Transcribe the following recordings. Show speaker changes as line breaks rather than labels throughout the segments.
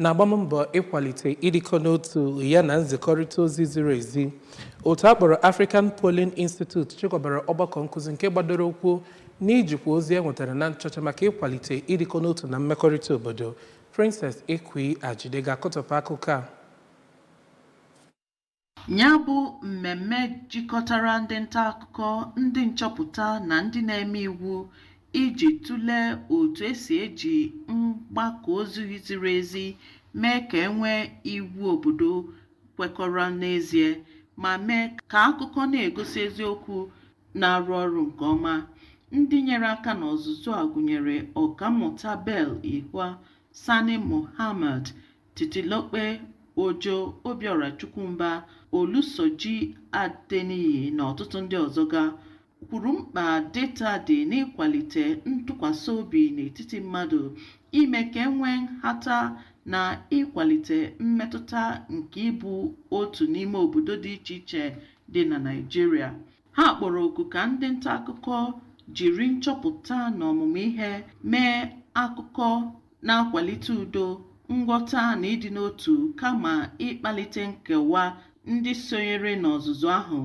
na-agba mbọ ịkwalite ịdịkọ n'otu ya na nzikọrịta ozi ziri ezi otu a kpọrọ African Polling Institute chịkọbara ọgbakọ nkụzi nke gbadoro ụkwụ n'ijikwa ozi e nwetara na nchọcha maka ịkwalite ịdịkọ n'otu na mmekọrịta obodo Princess Ekwi Ajide ga-akọtọpụ akụkọ a
Ya bụ mmemme jikọtara ndị nta akụkọ, ndị nchọpụta na ndị na-eme iwu iji tụlee otu esi eji mgbakọ ozi ziri ezi mee ka e nwee iwu obodo kwekọrọ n'ezie ma mee ka akụkọ na-egosi eziokwu na-arụ ọrụ nke ọma. Ndị nyere aka n'ọzụzụ a gụnyere Ọkammụta Bell Ihua, Sani Mohammed, Titilope Ojo, Obiora Chukwumba, Olusoji Adeniyi na ọtụtụ ndị ọzọ ga kwuru mkpa data dị n'ịkwalite ntụkwasị obi n'etiti mmadụ, ime ka e nwee nhata na ịkwalite mmetụta nke ịbụ otu n'ime obodo dị iche iche dị na Naịjirịa. Ha kpọrọ oku ka ndị nta akụkọ jiri nchọpụta na ọmụmụ ihe mee akụkọ na-akwalite udo, nghọta na ịdị n'otu kama ịkpalite nkewa ndị sonyere n'ọzụzụ ahụ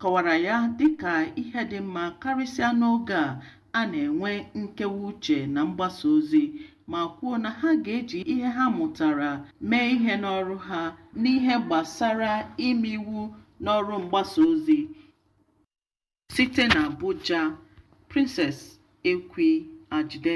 kọwara ya dịka ihe dị mma karịsịa n'oge a a na-enwe nkewa uche na mgbasa ozi ma kwuo na ha ga-eji ihe ha mụtara mee ihe n'ọrụ ha n'ihe gbasara ime iwu n'ọrụ mgbasa ozi site na Abuja Princess Ekwi Ajide